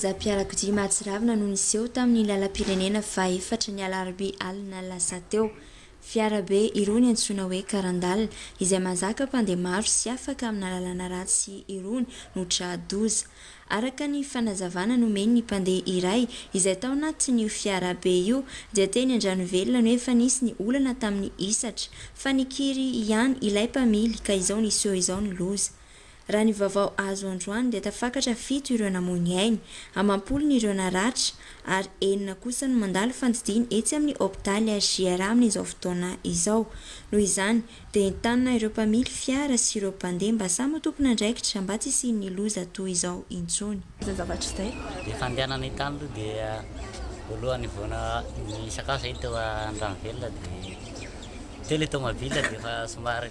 Zam-piarakodia mahatsiravina no niseho tamin'ny lalam-pirenena fahaefatra ny alarobia alina lasa teo. Fiara be irony antsoina hoe karandala izay mahazaka mpandeha maro sy afaka amina lalana ratsy irony no tra-doza. Araka ny fanazavana nomen'ny mpandeha iray izay tao anatin'io fiara be io dia teny Andranovelona no efa nisy ny olana tamin'ny hisatra fa nikiry ihany ilay mpamily ka izao niseho izao ny loza. Raha ny vaovao azo androany dia tafakatra fito ireo namoy ny ainy, amam-polo ny ireo naratra ary enina kosa no mandalo fandidiana etsy amin'ny hopitaly HJR amin'izao fotoana izao. Noho izany dia entanina ireo mpamily fiara sy ireo mpandeha mba samy ho tompon'andraikitra mba tsy hisian'ny loza toa izao intsony. Izay zavatra izay dia efa andehanana io tany aloha dia voalohany vao nisakafo izay teo Andranovelona dia teo ilay tomobile dia efa somary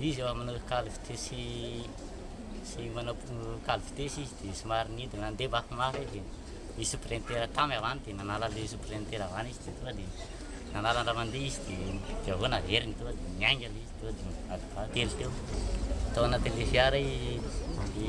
Izy amin'ny cale vitesse sy manao cale vitesse izy dia somary nidina nandeha vaky mafy izy dia nisy sous-printer tam avy any dia nanala ilay sous-printer avy any izy dia tonga dia nanala ny raha mandeha izy dia dia avy eo naveriny tonga dia niainga ilay izy tonga dia adin-telo teo tao anatin'ilay fiara i i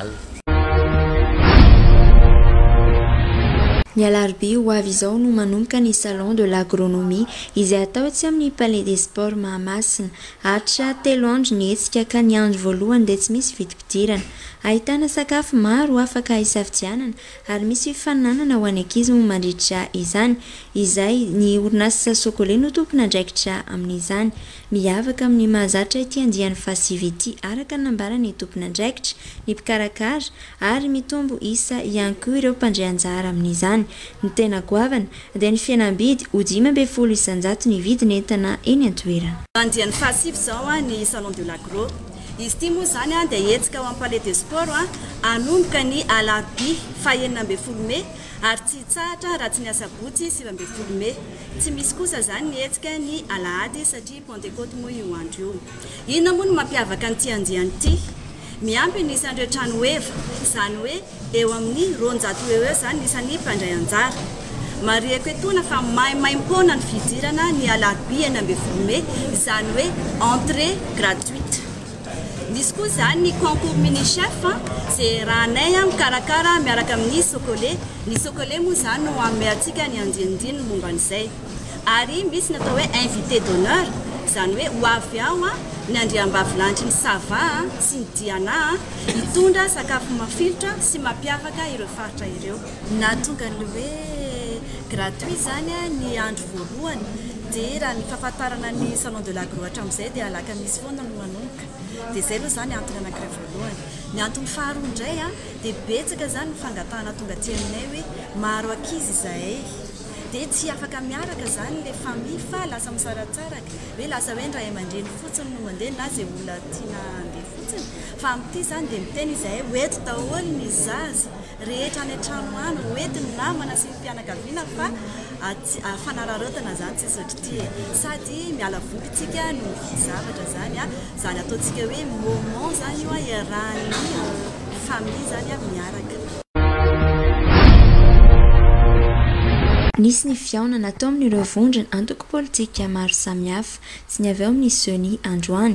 Al. Ny alarobia ho avy izao no manomboka ny Salon de l'agronomie izay atao etsy amin'ny Palais des Sports Mahamasina. Haharitra telo andro ny hetsika ka ny andro voalohany dia tsy misy vidim-pidirana. Ahitana sakafo maro afaka hisafidianana ary misy fifaninanana ho an'ny ankizy moa mandritra izany izay ny orinasa Socole no tompon'andraikitra amin'izany. Miavaka amin'ny mahazatra ity andiany fahasivy ity araka ny nambaran'ny tompon'andraikitra, ny mpikarakara, ary mitombo isa ihany koa ireo mpandray anjara amin'izany. Ny tena goavana dia ny fihenam-bidy, ho dimy ambin'ny folo isan-jato ny vidin'entana eny an-toerana. Andiany fahasivy izao ny Salon de l'Agro. Izy ity moa izany dia hetsika ao amin'ny Palais des Sports hanomboka ny alarobia fahenina ambin'ny folo mey ary tsy hitsahatra raha tsy ny asabotsy sivy ambin'ny folo mey. Tsy misy kosa izany ny hetsika ny alahady satria pentecote moa io andro io. Inona moa no mampiavaka an'ity andiany ity? Miampy ny isan'ireo trano ho eva, izany hoe eo amin'ny roanjato ho eo eo izany ny isan'ny mpandray anjara. Marihiko etoana fa maimaimpoana ny fidirana ny alarobia enina ambin'ny folo mey, izany hoe entrée gratuite. Misy koa izany ny concours mini chef izay rahanay mikarakara miaraka amin'ny Socole. Ny Socole moa izany no hanome antsika ny andinindininy momba an'izay. Ary misy ny atao hoe invité d'honneur, izany hoe ho avy ao ny andriambavilahitry ny Sava sy ny Diana hitondra sakafo mafilotra sy mampiavaka ireo faritra ireo. Nahatonga ny hoe gratuit izany ny andro voalohany dia raha ny fahafantarana ny salon de l'agro hatramin'izay dia alakamisy foana no manomboka dia izay aloha izany antony anankiray voalohany. Ny antony faharoa indray an dia betsaka izany ny fangatahana tonga aty aminay hoe maro ankizy izahay dia tsy afaka miaraka izany ilay famille fa lasa misaratsaraka hoe lasa hoe ny ray aman-dreny fotsiny no mandeha na izay olona tiana handeha fotsiny fa amin'ity izany dia miteny izahay ho eto daholo ny zaza rehetra any an-trano any ho entin'ny namana sy ny fianakaviana fa fanararaotana izany tsy sodrity e! sady miala voly isika no mividy zavatra izany an! izany ataontsika hoe moment izany io an! iarahan'ny famille izany an! miaraka. Nisy ny fihaonana tao amin'ireo vondrona antoko politika maro samihafa, tsy ny avy ao amin'ny Ceni androany,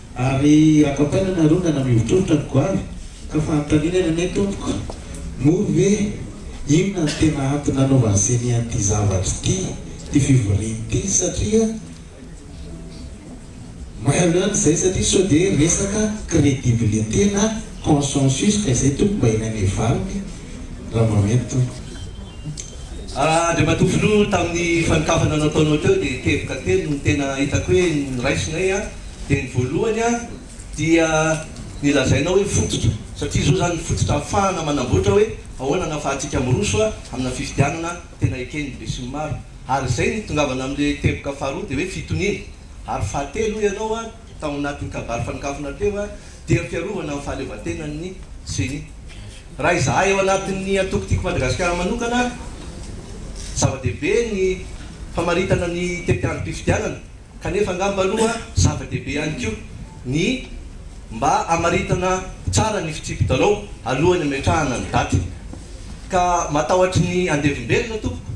Ary akapaina ny arongana mivotrovotra ny goavy ka fanontaniana ny anay tompoko, moa ve inona no tena antony nanaovan'i Ceni an'ity zavatra ity, ity fivoriana ity satria mailo ihany izay satria sao dia resaka credibilité na consensus ka izay tompoko mba ilainay valiny raha mba mety tompoko. Andriamatoa Filoha, tamin'ny fanokafana nataonao teo dia teboka telo no tena hitako hoe noraisinay Dia ny voalohany a, dia ny lazainao hoe fototra, satria izao izany ny fototra ahafahana manamboatra hoe ahoana no ahafahantsika miroso a, amina fifidianana tena eken'ny besinimaro. Ary izay no itongavana amin'ilay teboka faharoa dia hoe fitoniana. Ary fahatelo hoy ianao a, tao anatin'ny kabary fanokafana teo a, dia ny fiarovana ny fahaleovantenan'ny ceni. Raha izahay ao anatin'ny antoko Tiako Madagasikara manokana, zava-dehibe ny famaritana ny tetiandrom-pifidianana. Kanefa angamba aloha zava-dehibe ihany koa ny mba hamaritana tsara ny fitsipi-dalao alohan'ny hametrahana ny daty. Ka matahotry ny andevim-belona tompoko.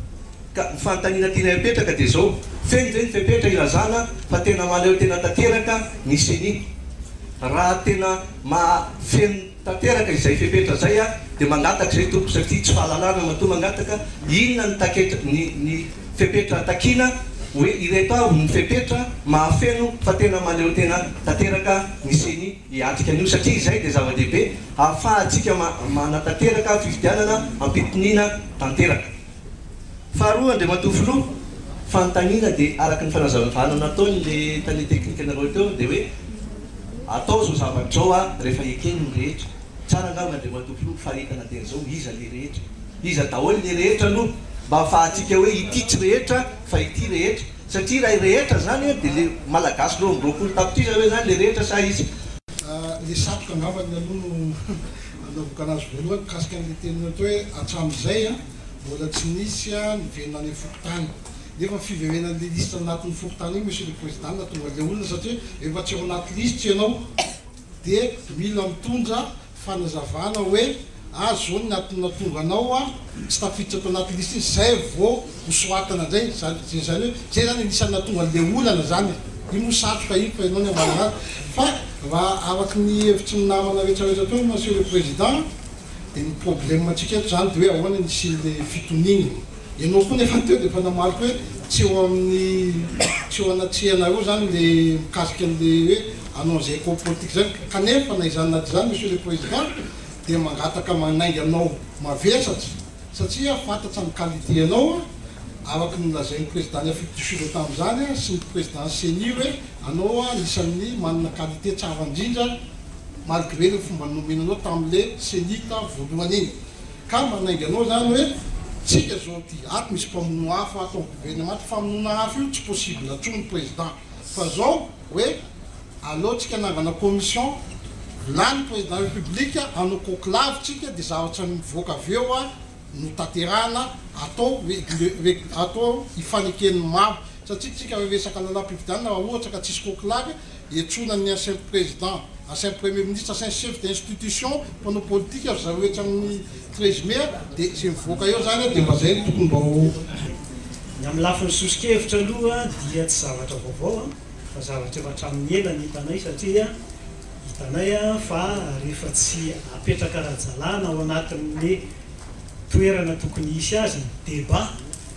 Ka ny fanontaniana tianay apetraka dia izao, feno ve ny fepetra ilazana fa tena mahaleo tena tanteraka ny ceni? Raha tena mahafeno. Tanteraka izay fepetra izay aho dia mangataka izay tompoko satria tsy fahalalana matoa mangataka inona ny taketra ny ny fepetra takiana hoe ireto avy ny fepetra mahafeno fa tena mahaleotena tanteraka ny ceni hiatrika an'io satria izay dia zava-dehibe hahafahantsika ma manatanteraka fifidianana ampitoniana tanteraka. Faharoa, Andriamatoa Filoha, fanontaniana dia araka ny fanazavavana nataon'ilay tale teknikanareo teo dia hoe atao izao zavatra izao a, rehefa ekeny ny rehetra. Tsara angamba Andriamatoa Filoha faritana teny izao, iza ilay rehetra? Iza daholo ilay rehetra aloha mba hafahantsika hoe ity tsy rehetra fa ity rehetra. Satria raha rehetra izany dia ilay Malagasy roa amby roapolo tapitrisa ve izany ilay rehetra sa iza? Ilay satroka angambany aloha no. Nanomboka nahazo voalohany mikasika an'ilay teny ohatry hoe hatramin'izay mbola tsy nisy niverina any amin'ny fokontany. Nefa fiverenana an'ilay lisitra anatin'ny fokontany iny Monsieur le Président no nahatonga an'ilay olona satria rehefa tsy ao anaty lisitra ianao dia mila mitondra fanazavana hoe aza izao ny antony nahatonga anao tsy tafiditra tao anaty lisitra iny izay vao ho soatana indray izany dia izany hoe izay izany anisan'ny nahatonga an'ilay olana izany e! io moa satroka io fa ianao no hamahana azy fa raha araka ny hevitry ny namana rehetra rehetra teo Monsieur le Président dia ny problème antsika eto izany dia hoe ahoana ny hisian'ilay fitoniana ianao koa nefa teo dia efa namariky hoe tsy eo amin'ny tsy eo anatrehanareo izany ilay mikasika an'ilay hoe hanao an'izay accord politique izay kanefa na izany na izany Monsieur le Président dia mangataka manainga anao mavesatra Satria fantatsa ny qualité anao a, araka ny nolazain'ny président ny Afrique du Sud a tamin'izany a, sy ny président ceni hoe anao a anisan'ny manana qualité tsara indrindra malgré le fomba nomena anao tamin'le cenita voalohany iny. Ka manainga anao zany hoe tsika zao ty, ato misy mpamono afo ato amin'ny gouvernement, ty famonoana afo io tsy possible atsony président. Fa zao hoe aleontsika anangana commission lany président république anao conclave tsika de zavatra mivoaka avy eo a no tanterahana atao atao hifaneken'ny maro satria tsika raha resaka lalam-pifidianana raha ohatra ka tsisy conclave hiantsoana ny ancien président ancien premier ministre ancien chef d'institution mpanao politika ry zareo etsy amin'ny Treizième a, dia izay mivoaka eo izany a, dia mba izay no tokony mba ho. Ny amin'ny lafiny soso-kevitra aloha dia tsy zavatra vaovao a, fa zavatra efa hatramin'ny ela no hitanay satria hitanay fa rehefa tsy apetraka ara-dalàna ao anatin'ny toerana tokony hisy azy ny débat,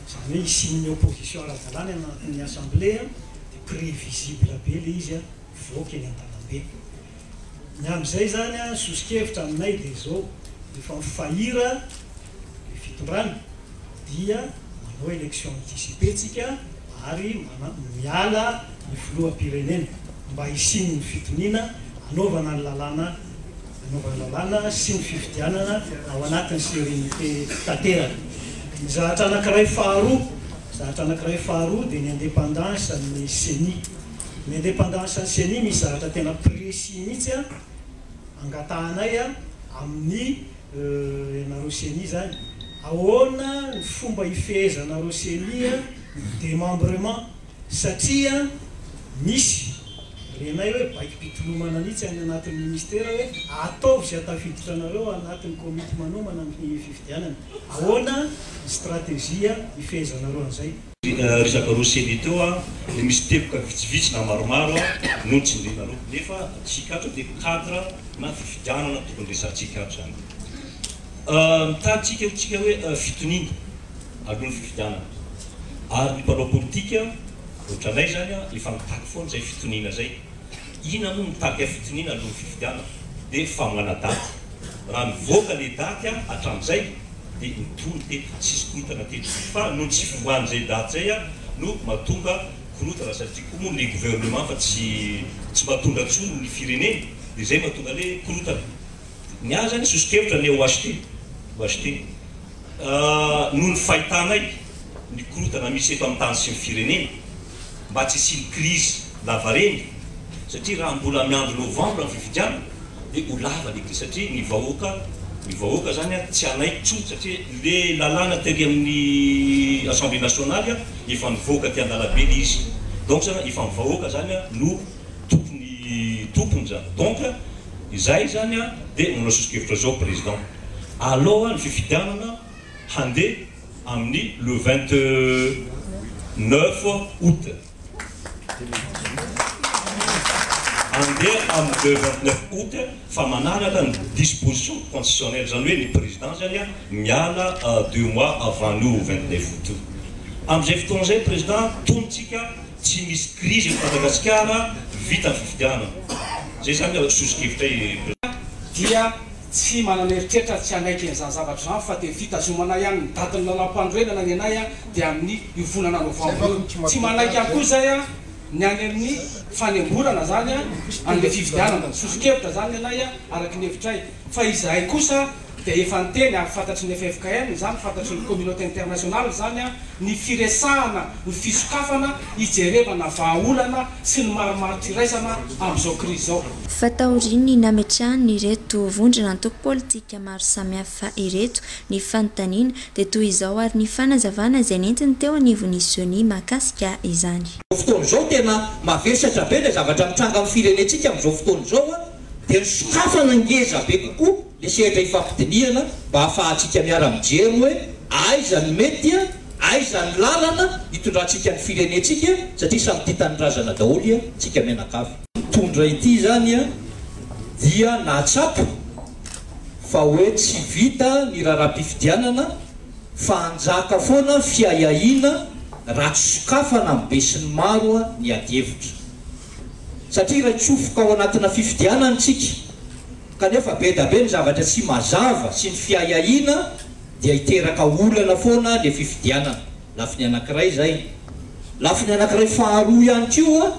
izany hoe hisian'ny opposition ara-dalàna any anatin'ny assemblée, dia prévisible be ilay izy a, mivoaka eny an-dalambe. Ny amin'izay izany an, soso-kevitra aminay dia izao, efa mifahiran ny fitondrana dia manao élection anticipée tsika ary miala ny filoham-pirenena mba hisian'ny fitoniana hanaovana ny lalàna hanaovana lalàna sy ny fifidianana ao anatin'ny sérénité tanteraka. Ny zahatra anankiray faharoa zahatra anankiray faharoa dia ny indépendance an'ny ceni. Ny indépendance ny ceni misy zavatra tena précis mihitsy a angatahanay a amin'ny ianareo ceni zany ahoana ny fomba ifehezanareo ceni a ny démembrement satria misy renay hoe baikom-pitolomana mihitsy any anatin'ny ministera hoe ataovy izay tafiditra anareo anatin'ny komity manomana ny fifidianana ahoana ny stratégie ifehezanareo an'izay. Ry zakaroa Semi teo a, le misy teboka vitsivitsy na maromaro a no nojinjinareo nefa antsika ato de cadre na fifidianana tokony resahantsika ato zany. Mitady tsika ho tsika hoe fitoniana aloha ny fifidianana ary ny mpanao politika otranay zany a efa mitaky foana zay fitoniana zay. Ina moa mitaky fitoniana aloha ny fifidianana de fa manadaty. Raha mivoaka le daty a hatramizay. dia nitory teto tsisy korotana teto fa noho ny tsy fiombàn'izay daty izay aho no mahatonga korotana satria koa moa ny gouvernement fa tsy tsy mba tondra intsony ny firenena dia izay mahatonga le korotana ny ahy zany sosokevitra ny OHT OHT noho ny fahitanay ny korotana misy eto amin'ny tany sy ny firenena mba tsy hisian'ny krizy lavareny satria raha mbola miandry novambra ny fifidianana dia ho lava ny krizy satria ny vahoaka ny vahoaka izany tsy hanaiky intsony satria ilay lalàna tery amin'ny Assemblée nationale efa nivoaka aty an-dalabe ilay izy donc izany efa ny vahoaka izany no tompony tompony izany donc izay izany dia manao sosokevitra izao président alao ny fifidianana handeha amin'ny le vingt neuf aout. Handeha amin'ny le vingt neuf aout fa manaraka ny disposition constitutionnelle, izany hoe ny président zany miala deux mois avant io vingt neuf aout io. Amin'izay fotoana izay président tonontsika tsy misy crise eto Madagasikara, vita ny fifidianana. Izay izany sosokevitray président. Tsy manana eritreritra ary tsy hanaiky an'izany zavatra izany fa dia fitazomana ihany ny datin'ny lalàmpanorenana ny anay dia amin'ny io volana novambra io. Tsy manaiky ihany koa izay ny any amin'ny fanemborana izany an'ilay fifidianana. Soso-kevitra izany ny anay araka ny hevitray fa izahay kosa dia efa niteny ary fantatry ny ffkm izany, fantatry ny communauté internationale izany ny firesahana ny fisokafana hijerevana vahaolana sy ny marimaritra iraisana amin'izao krizy izao. Fa taorian'ny nametrahan'ireto vondrona antoko politika maro samihafa ireto ny fanontaniana, dia toy izao ary ny fanazavana izay nentiny teo anivon'ny Ceni mahakasika izany. Amin'izao fotoana izao, tena mavesatra be ilay zavatra mitranga amin'ny firenentsika amin'izao fotoana izao, dia ny sokafana ngeza be kokoa Ny sehatra ifampidinihana mba hahafahantsika miara-mijery hoe aiza no mety, aiza ny lalana hitondrantsika ny firenentsika satria samy tia tanindrazana daholo tsika mianakavy. Mpitondra ity izany dia nahatsapa fa hoe tsy vita ny raharaham-pifidianana fa hanjaka foana fiahiahiana raha tsy sokafana amin'ny besinimaro ny adihevitra satria iray tsofoka ao anatina fifidianana isika. Kanefa be da be ny zavatra tsy mazava sy ny fiahiahiana dia hiteraka olana foana le fifidianana, lafiny anakiray zay. Lafiny anakiray faharoa ihany koa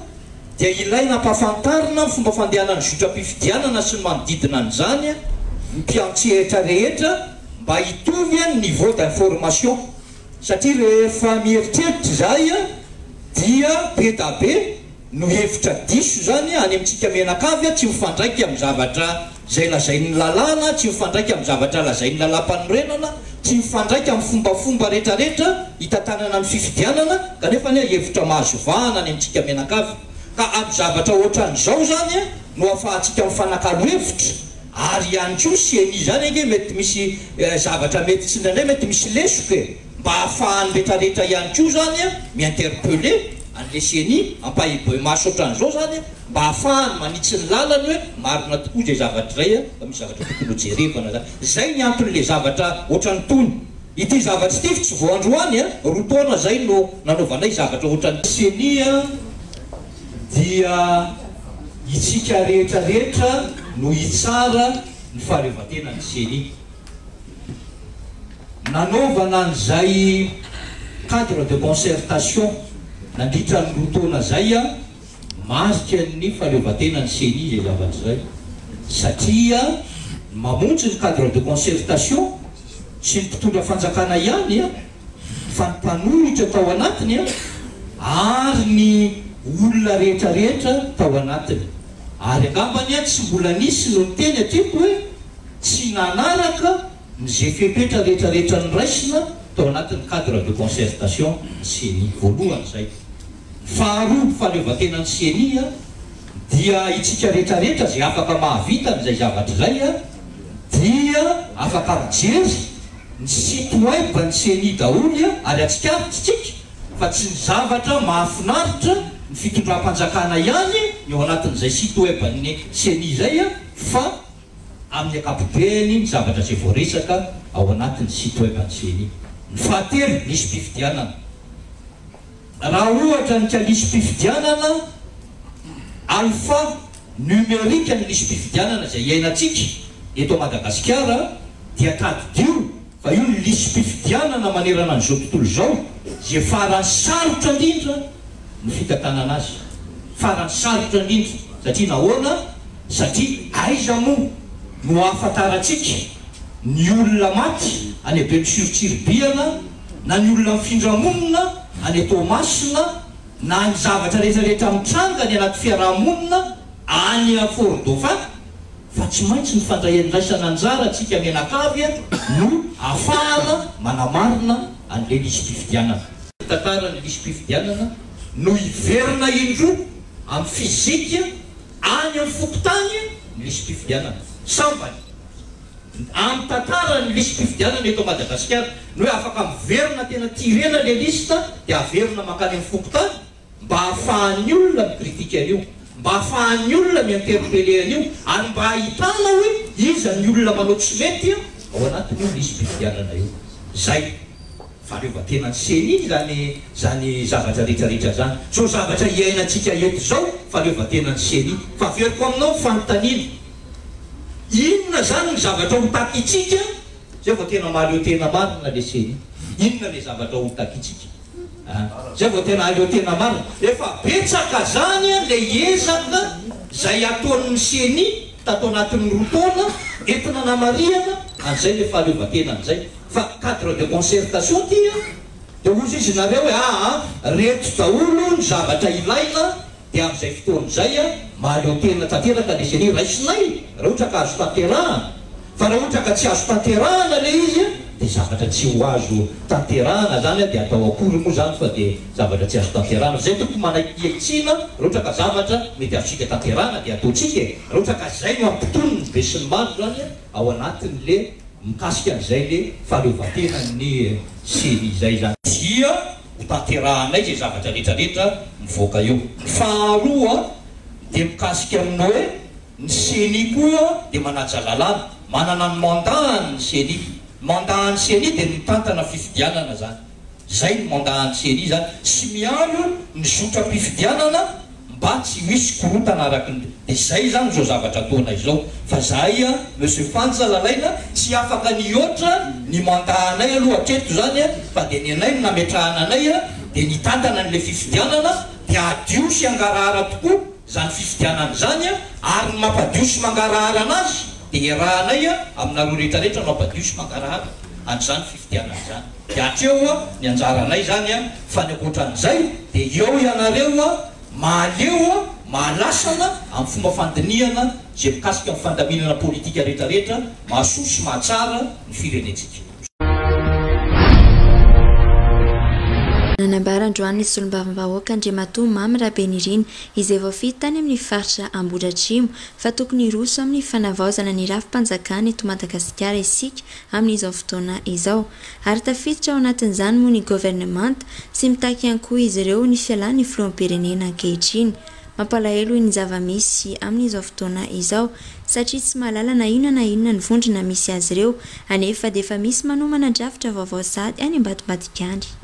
dia ilaina ampahafantarina ny fomba fandehanan'ny zotram-pifidianana sy ny manodidina an'izany ny mpiantsehatra rehetra mba hitovy ny niveau d'information satria rehefa mieritreritra izahay dia be da be no hevitra diso izany any amintsika mianakavy tsy mifandraika amin'ny zavatra izay lazain'ny lalàna, tsy mifandraika amin'ny zavatra lazain'ny lalàmpanorenana, tsy mifandraika amin'ny fombafomba rehetrarehetra hitantanana ny fifidianana kanefa anie hevitra mahazo vahana any amintsika mianakavy ka amin'ny zavatra ohatran'izao izany no afahantsika mifanakalo hevitra ary ihany koa ceni izany ange mety misy zavatra mety tsy indraindray mety misy lesoka e! Mba hahafahan'ny retraretra ihany koa zany mi-interpeller an'le ceni, ampahiboimaso otran'izao zany mba hahafahany manitsy ny lalany hoe marina tokoa izay zavatra izay fa misy zavatra tokony ho jerevana zany. Izay ny anton'le zavatra otran'itony. Ity zavatra ity tsy vao androany an, roa taona izay no nanaovanay zavatra otran'ity. Ceni dia itsika rehetra rehetra no hitsara ny fahaleovantenan'ny ceni. Nanaovana an'izay cadre de concertation nandritra ny roa taona izay marika ny fahaleovantenan'ny Ceni izay zavatra izay satria mamonjy ny cadre de concertation tsy ny mpitondra fanjakana ihany. fa ny mpanohitra tao anatiny ary ny olona rehetra rehetra tao anatiny. Ary angambany tsy mbola nisy no niteny hatreto hoe tsy nanaraka ny ze fepetra rehetra rehetra noraisina tao anatin'ny cadre de concertation ny ceni. Voalohany zay. Faharoa, fahaleovantenan'ny ceni dia itsika rehetra rehetra ze afaka mahavita an'izay zavatra izay dia afaka mijery. Ny site web ny ceni daholo a ary atsikaritra tsika fa tsy ny zavatra mahafinaritra ny fitondram-panjakana ihany ny ao anatin'izay site web ny ceni izay a fa amin'ny ankapobeny ny zavatra izay voaresaka ao anatin'ny site web ny ceni. Ny fahatelo nisy mpifidianana. Raha ohatra ny ka lisi-pifidianana alpha numerique ny lisi-pifidianana izay iainantsika eto Madagasikara dia tadidio fa io ny lisi-pifidianana manerana an'izao tontolo izao izay faran'ny sarotra indrindra ny fitantanana azy. Faran'ny sarotra indrindra satria nahoana? Satria aiza moa no ahafantarantsika ny olona maty any Benosy Tsiribihana? na ny olona mifindra monina any Toamasina, na ny zavatra rehetra rehetra mitranga any anaty fiaraha-monina any Fort Dauphin, fa tsy maintsy ny fandraiandraisana anjara antsika mianakavy no ahafahana manamarina an'ilay lisi-pifidianana. Ny tantaran'ny lisi-pifidianana no hiverina indroa amin'ny fizika any amin'ny fokontany ny lisi-pifidianana. Sambany. Amin'ny tantaran'ny lisi-pifidianana eto Madagasikara, ny hoe afaka miverina tena tirena ilay liste dia averina mankany amin'ny fokontany mba ahafahan'ny olona mi-critique an'io, mba ahafahan'ny olona mi-interpeller an'io ary mba ahitana hoe iza ny olona manao tsy mety ao anatin'io lisi-pifidianana io. Izay. Fahaleovantena ny ceni iny zany zany zavatra rehetra rehetra zany tsy ho zavatra iainantsika eto zao fahaleovantena ny ceni fa averiko aminao ny fanontaniana inona zany ny zavatra ho takitsika zay vao tena mahaleo tena marina le ceni inona le zavatra ho takitsika a zay vao tena ahaleo tena marina efa betsaka zany a le ezaka zay ataon'ny ceni tato anatin'ny roa taona entina namarihana an'izay le fahaleovantena an'izay fa cadre de concertation ty a, dia hozy izy nareo hoe aa reto daholo ny zavatra ilaina dia amin'izay fotoana izay a mahaleo tena tanteraka le serie raisinay raha ohatra ka azo tanterahana, fa raha ohatra ka tsy azo tanterahana le izy a dia zavatra tsy ho azo tanterahana zany a dia atao akory moa zany fa dia zavatra tsy azo tanterahana, fa zay tokony manaiky hialtsiana raha ohatra ka zavatra mety azontsika tanterahana dia ataontsika e, raha ohatra ka zay no ampitoniny be sy ny maro zany a. ao anatiny le mikasika an'izay le fahaleovantenan'ny serie izay zany. Dia hotanterahanay izay zavatra rehetra rehetra mivoaka eo. Faharoa dia mikasika amin'ny hoe ny ceni koa dia manaja lalàna, manana ny mandat-ny ny ceni. Mandat-ny ceni dia ny mitantana fifidianana zany. Izay ny mandat an'i Syriza sy miandry ny zotram-pifidianana mba tsy hisy korontana araka ny dia izay izany izao zavatra ataonay izao fa zahay a Monsieur Fanja Lalaina tsy afaka ny hihoatra ny mandat anay aloha hatreto izany fa dia ny anay no nametrahana anay dia nitantana an'ilay fifidianana dia hadio sy hangarahara tokoa izany fifidianana izany ary ny mampadio sy mangarahara anazy dia iarahanay aminareo rehetra rehetra no hampadio sy mangarahara an'izany Diana izany dia hatreo ny anjaranay izany fa ny ankoatran'izay dia eo ianareo mahaleo mahalasana amin'ny fomba fandinihana izay mikasika ny fandaminana politika rehetra rehetra mahasoa sy mahatsara ny firenentsika. Nanambara androany ny solombavambahoaka Andriamatoa Mamy Rabenirina izay voafidy tany amin'ny faritra Ambohidratrimo fa tokony hiroso amin'ny fanavaozana ny rafi-panjakana eto Madagasikara isika amin'izao fotoana izao, ary tafiditra ao anatin'izany moa ny governemanta, sy mitaky ihany koa izy ireo ny fialan'ny filoham-pirenena ankehitriny. Mampalahelo ny zava-misy amin'izao fotoana izao, satria tsy mahalala na inona na inona ny vondrona misy azy ireo, anefa dia efa misy manomana drafitra vaovao sahady any Ambatombadigandry.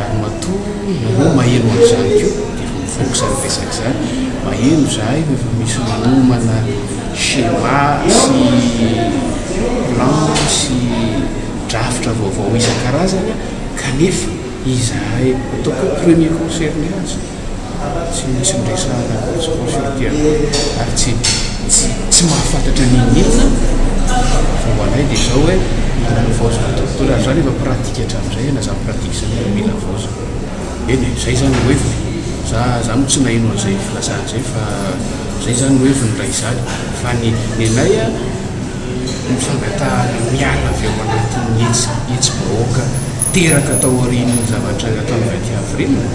ary matoa ianao maheno an'izany koa dia efa mivoaka izany resaka izany, maheno izahay fa efa misy manomana schéma sy plan sy drafitra vaovao isan-karazany kanefa izahay ataoko hoe premier concerné aza. Tsy misy miresahana an'i Jesosy fa ity anao ary tsy tsy mahafantatra ny inona fa ho anay dia izao hoe mila ny vaozina dokotera ary izany efa pratika hatramin'izay na zany pratika izany efa mila vaozina eny e izay izany no heviny za za moa tsy naheno an'izay filazana izay fa izay izany no heviny raha izany fa ny ny anay a ny fangatahana miala avy ao anatin'ny hetsi hetsi-bahoaka teraka taorian'ny zavatra nataon'i Rakiavirenina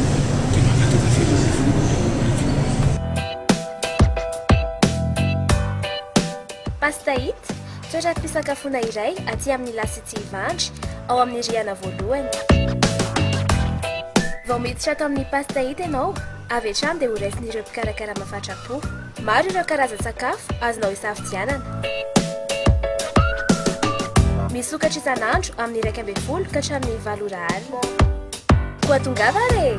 dia mangataka fialonana Pastahit, toeram-pisakafoana iray aty amin'ny La City Ivandry, ao amin'ny rihana voalohany. Vao miditra ato amin'ny Pastahit ianao, avy hatrany dia horaisin'ireo mpikarakara mafatrapo. Maro ireo karazan-tsakafo azonao isafidianana. Misokatra isan'andro amin'ny iraika ambin'ny folo ka hatramin'ny valo ora alina. Koa tongava re!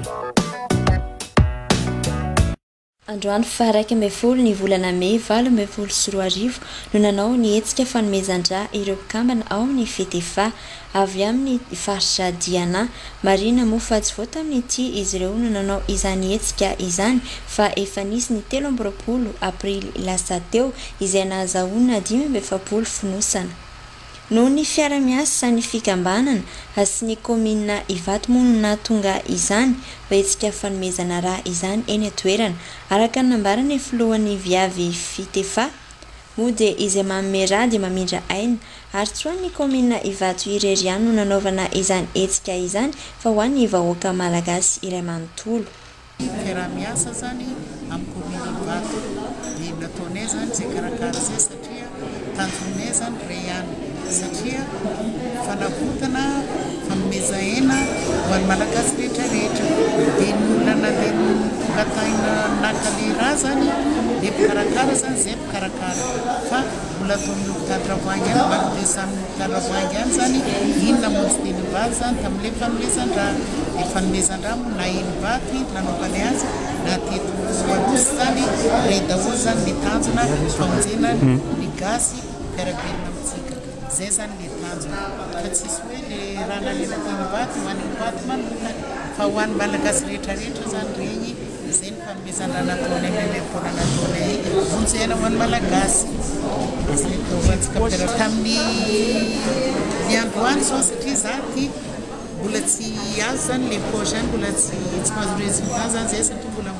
Androany faha iraika ambin'ny folo ny volana mey valo ambin'ny folo sy roa arivo no nanao ny hetsika fanomezan-drà ireo mpikambana ao amin'ny Fedefa. avy amin'ny faritra Diana. Marihina moa fa tsy vao tamin'ity izy ireo no nanao izany hetsika izany fa efa nisy ny telo amby roapolo aprily lasa teo izay nahazahoana dimy amby efapolo fonosana. Noho ny fiara-miasan'ny fikambanana sy ny kaominina Ivato moa no nahatonga izany hetsika fanomezana rà izany eny an-toerana, araka ny nambaran'ny filohan'ny Viavy Fitefa, Moa dia izay manome ra dia mamindra aina. Ary tsy ho an'ny kaominina Ivato irery ihany no nanaovana izany hetsika izany fa ho an'ny vahoaka malagasy iray manontolo. Ny fiaraha-miasa izany amin'ny kaominina Ivato dia nataonay izany izay karakara izay satria tanjonay izany iray ihany. satria fanavotana, fanomezan-aina ho an'ny Malagasy rehetra rehetra, dia ny olana dia ny mbola tahina naka le rà zany le mpikarakara zany zay mpikarakara fa mbola atao amin'ny hopitaly Ravoahangy any mba miresaka amin'ny hopitaly Ravoahangy any zany iny namonjy tenimbato zany tamin'le fanomezan-drà, le fanomezan-drà moa na eny Ivato i nanaovany azy na teto Anosy zany rey daholo zany le tanjona famonjena ny gasy. Miara-belona amintsika. Izay zany le tanjona. Fa tsisy hoe le raha nalevako an'i Bato, ho an'i Bato manokana. Fa ho an'ny Malagasy rehetra rehetra zany regny. Izay ny fanomezan-dra nataonay, fanomezam-poana nataonay. Vonjy aina ho an'ny Malagasy. Izay no taovantsika mpiara-belona. Tamin'ny ny androany zao satria za ty mbola tsy azo zany le poche zany mbola tsy mahazo résultat zany zay satria mbola.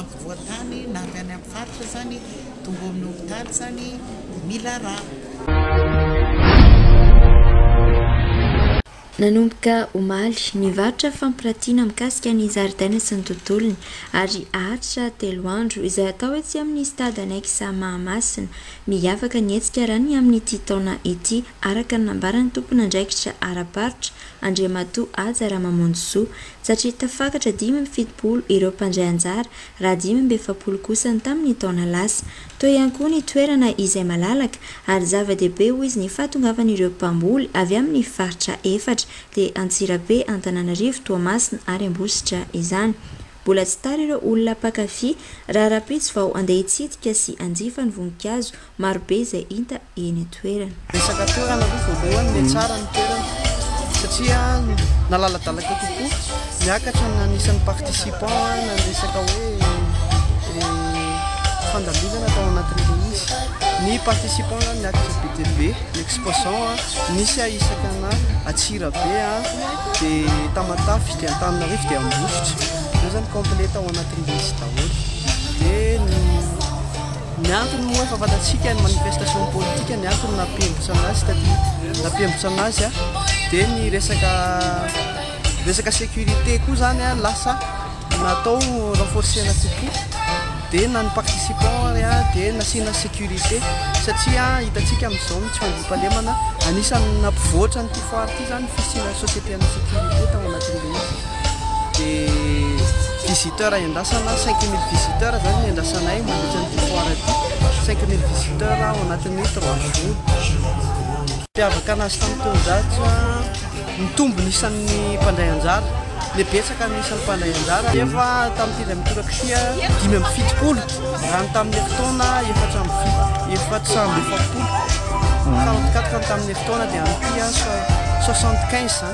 ampovoan-tany na avy any amin'ny faritra izany, tonga ao amin'ny hopitaly izany dia mila rà. Nanomboka omaly, ny varotra fampiratiana mikasika ny zaridaina sy ny tontolony ary haharitra telo andro izay atao etsy amin'ny Stade Annexe Mahamasina. Miavaka ny hetsika raha ny amin'ity taona ity araka ny nambaran'ny tompon'andraikitra ara-barotra, Andriamatoa Haja Ramamonjisoa, satria tafakatra dimy amby fitopolo ireo mpandray anjara raha dimy amby efapolo kosa ny tamin'ny taona lasa. Teo ihany koa ny toerana izay malalaka ary zava-dehibe hoy izy ny fahatongavan'ireo mpamboly avy amin'ny faritra efatra dia Antsirabe, Antananarivo, Toamasina ary Ambositra izany. Mbola tsy tara ireo olona mpankafy raha rahampitso vao handeha hitsidika sy hanjifa ny voninkazo Marobe izay hita eny an-toerana. Resaka toerana aloha voalohany, dia tsara ny toerana satria nalaladalaka kokoa, miakatra ny anisan'ny participants na ny resaka hoe fandaminana tao anatin'ilay izy. Ny participants zany niakatra be dia be, ny exposants nisy a isaka ana Antsirabe, dia Tamatave, dia Antananarivo, dia Ambositra. Izay zany complet tao anatin'ilay izy daholo. Dia ny Ny antony moa efa fantatsika ny manifestation politika ny antony nampiembotsana azy taty nampiembotsana azy a dia ny resaka resaka sécurité koa zany a lasa natao renforcena kokoa dia na ny participant ary a dia nasiana sécurité satria hitantsika amin'izao ny tsy fandriampahalemana anisan'ny nampivoatra an'ity foire ity zany fisiana société ana sécurité tao anatin'ilay izy dia visiteur iandrasana cinq mille visiteur izany no iandrasanay mandritra an'ity foire ity, cinq mille visiteur ao anatin'ny trois jours. Mampiavaka anazy tamin'ny taon-jato a, nitombo ny isan'ny mpandray anjara, dia betsaka ny isan'ny mpandray anjara nefa tamin'ny telo ambin'ny folo ak sy dimy amby fitopolo raha ny tamin'ny herintaona efatra amby fito efatra amby efapolo, fa ny herintaona dia any soixante quinze izany.